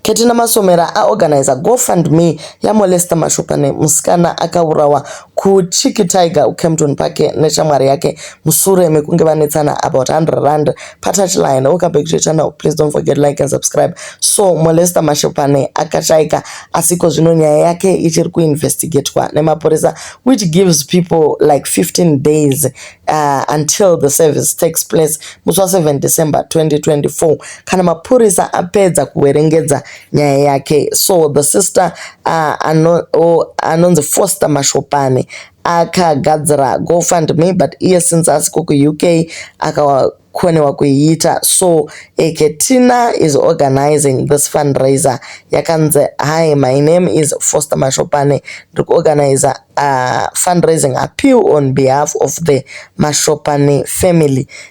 Ketina Masomera aorganizer go fund me ya Molester Mashopane musikana akaurawa ku Chiki Tiger ku Kempton Park neshamwari yake musure mekunge vanetsana about 100 rand pa touch line. Welcome back to your channel please don't forget like and subscribe. So Molester Mashopane akashaika asi ikozvino nyaya yake ichiri ku investigatwa nemapurisa which gives people like 15 days uh, until the service takes place musi wa 7 December 2024 kana mapurisa apedza kuverengedza nyaya yake so the sister uh, ano, oh, anonzi foster mashopani akagadzira gofund me but iye since asiko kuuk akakonewa kuiita so eketina is organizing this fundraiser yakanzi hi my name is foster mashopani ndiri kuorganiza uh, fundraising appeal on behalf of the mashopani family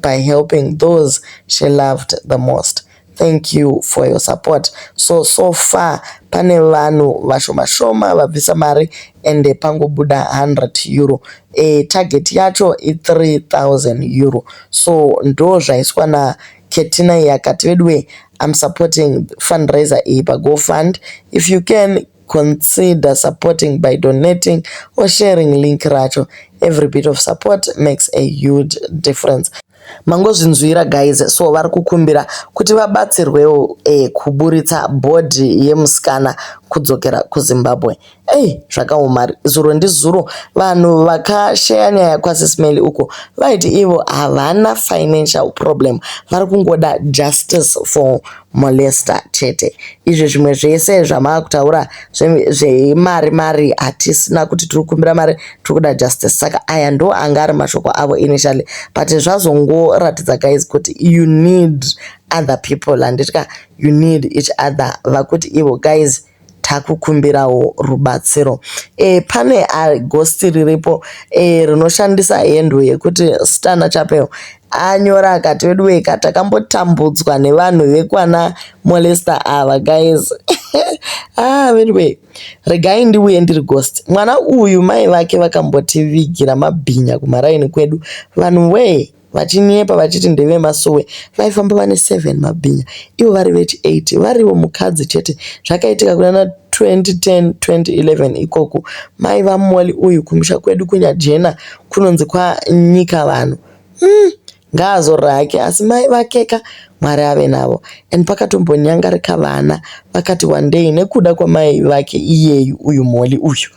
by helping those she loved the most. Thank you for your support. So, so far pane vanhu vashoma shoma vabvisa mari ende pangobuda 100 euro. E, target yacho i 3000 euro. So ndo zvaiswa na Ketina yakati veduwe I'm supporting fundraiser iyi pa GoFund. If you can consider supporting by donating or sharing link racho every bit of support makes a huge difference mangozvinzwira guys so vari kukumbira kuti vabatsirwewo eh, kuburitsa bhodhi yemusikana kudzokera kuzimbabwe ei zvakaoma zuro ndizuro vanhu vakasheya nyaya kwasismail uko vaiti ivo havana financial problem vari kungoda justice for molester chete izvi zvimwe zvese zvamakutaura zvemari mari hatisina kuti tiri kukumbira mari tiri kuda justice saka aya ndo anga ari mashoko avo initially but zvazongoratidza guys kuti you need other people handiti ka you need each other vakuti ivo guys Takukumbirawo rubatsiro eh, pane ah, ghost riripo eh, rinoshandisa handle yekuti Stana Chapel anyora akati veduwee ka takambotambudzwa nevanhu vekwana molester ava guys ah veduwee regai ndiuye ndiri ghost mwana uyu mai vake vakambotivigira mabhinya kumaraini kwedu vanhu wee vachinyepa vachiti ndevemasowe vaifamba vane seven mabhinya ivo vari veti eight varivo mukadzi chete zvakaitika kunana 2010 2011 ikoku mai vamolly uyu kumusha kwedu kunyajena kunonzi kwanyika vanhu mm, ngaazorora hake asi mai vakeka mwari ave navo and pakatombonyangarika vana vakati wandei nekuda kwamai vake iyeyu uyu molly uyu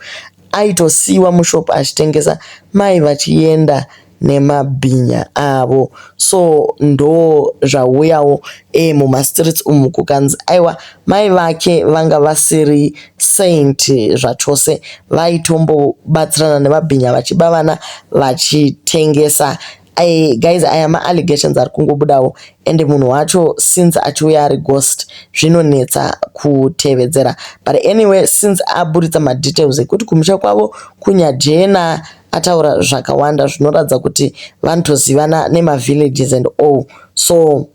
aitosiyiwa mushop achitengesa mai vachienda nemabhinya avo so ndo zvauyawo e muma streets umu kukanzi aiwa mai vake vanga vasiri saint zvachose vaitombobatsirana nemabhinya vachiba vana vachitengesa I, guys aya ma allegations ari kungobudawo and munhu wacho since achiuya ari ghost zvinonetsa kutevedzera but anyway since aburitsa madetails ekuti kumusha kwavo kunyajena uh, ataura zvakawanda zvinoratidza kuti vanotozivana nemavillages and all so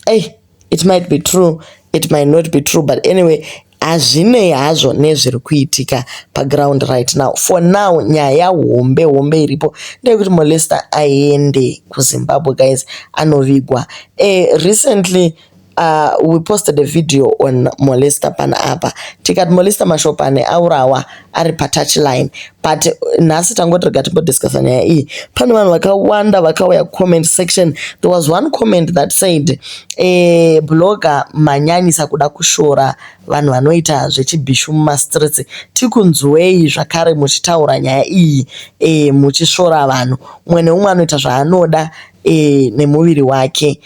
ey it might be true it might not be true but anyway hazvinei hazvo nezviri kuitika paground right now for now nyaya hombe hombe iripo ndeyekuti molester aende kuzimbabwe guys anovigwa e, recently Uh, we posted a video on molester pana apa tikati molester mashopane aurawa ari patouch line but uh, nhasi tangoti rega tingodiscussa nyaya iyi pane vanhu vakawanda vakauya comment section there was one comment that said eh, blogger manyanyisa kuda kushora vanhu vanoita zvechibhishu mumastreets tikunzwei zvakare muchitaura nyaya iyi eh, muchishora vanhu umwe neumwe anoita zvaanoda eh, nemuviri wake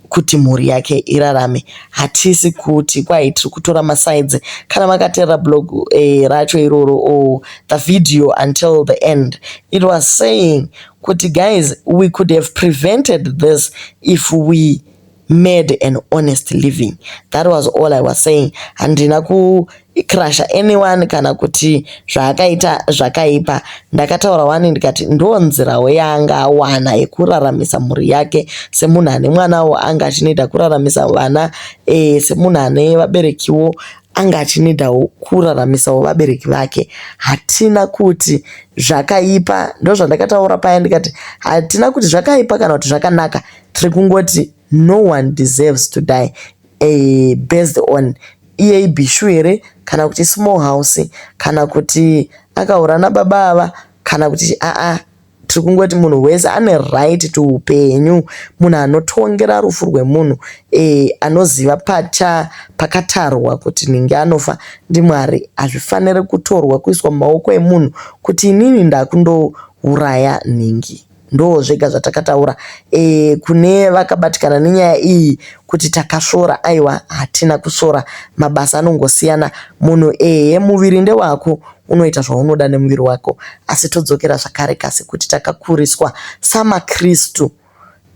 kuti mhuri yake irarame hatisi kuti kwai tiri kutora masides kana makaterera blog eh, racho iroro or oh, the video until the end it was saying kuti guys we could have prevented this if we made an honest living that was all i was saying handina ku icrusher anyone kana kuti zvaakaita zvakaipa ndakataura wani ndikati ndo nzirawo yaanga awana yekuraramisa mhuri yake semunhu ane mwanawo anga achinida kuraramisa vana e, semunhu ane vaberekiwo anga achinidawo kuraramisawo vabereki vake hatina kuti zvakaipa ndo zvandakataura paya ndikati hatina kuti zvakaipa kana kuti zvakanaka tiri kungoti no one deserves to die Eeh based on iye ibhishu here kana kuti ismall house kana kuti akahura nababa ava kana kuti chii aa tiri kungoti munhu wese ane right to upenyu. Munhu anotongera rufu rwemunhu eeh anoziva pacha pakatarwa kuti nhingi anofa ndiMwari. Hazvifanire kutorwa kuiswa mumaoko emunhu kuti inini ndakundouraya nhingi. Ndoo zvega zvatakataura eeh kune vakabatikana nenyaya iyi kuti takasvora aiwa hatina kusvora mabasa anongosiyana munhu ehe muviri ndewako unoita zvaunoda nemuviri wako asi todzokera zvakare kasi kuti takakuriswa samaKristu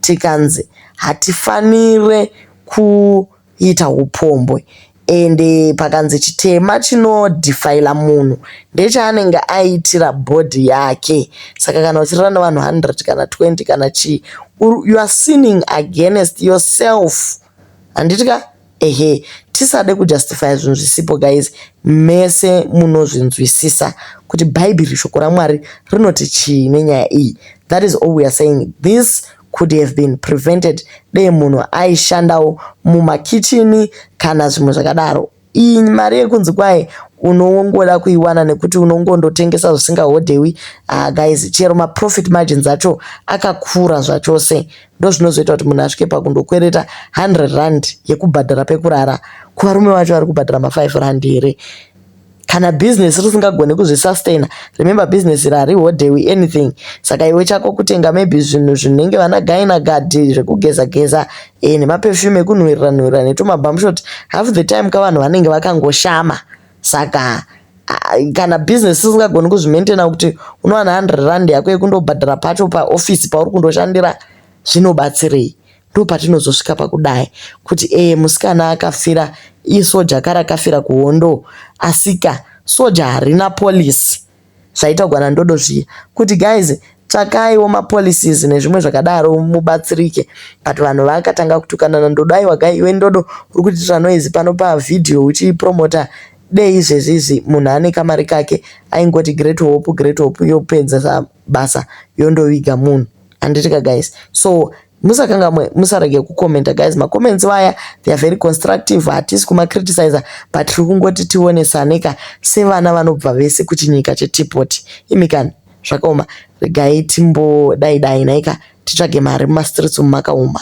tikanzi hatifanire ku kuita hupombwe and pakanzi chitema chinodefiler munhu ndechaanenge aitira body yake saka kana uchirara nevanhu 100 kana 20 kana chii you are sinning against yourself handiti ka ehe tisade kujustifya zvinhu zvisipo guys mese munozvinzwisisa kuti bhaibheri shoko ramwari rinoti chii nenyaya iyi that is all we are saying this could have been prevented dei munhu aishandawo mumakichini kana zvimwe zvakadaro. Iyi mari yekunzi kwaye unongoda kuiwana nekuti unongondotengesa zvisingahodhewi ah, guys chero maprofit margins acho akakura zvachose ndozvinozoita kuti munhu asvike pakundokwereta 100 rand yekubhadhara pekurara kuvarume vacho vari kubhadhara ma5 rand here Kana business risingagone kuzvisustainer, remember business iri harihodhewi anything. Saka iwe chako kutenga maybe zvinhu zvinenge vana Gyna Guard zvekugeza geza eh, nemaperfume ekunhuwirira nhuwirira netumabumshot. Half the time ka vanhu vanenge vakangoshama. Saka ah, kana business risingagone kuzvimaintainer kuti unowana 100 rand yako yekundobhadhara pacho paoffice pauri kundoshandira zvinobatsirei? Ndopatinozosvika pakudai kuti ee musikana akafira isoja ka rakafira kuhondo asika soja harina policy zvaitaugwa nandodo zviya kuti guys tsvakaiwo mapolicies nezvimwe zvakadaro mubatsirike but vanhu vakatanga kutukana nandodo aiwa gai iwe ndodo uri kutiitira noise pano pavhidhiyo uchipromota dei izvezvi izvi munhu ane kamari kake aingoti great hope great hope yopedza basa yondoviga munhu handitika guys so musakangamwe musarege kucomenta guys macomments vaya theyare very constructive hatisi kumacriticizer but tiri kungoti tionesaneka sevana vanobva vese kuchinyika chetipoti imikani zvakaoma regai timbodai dai naika titsvage mari mumastreets umu makaoma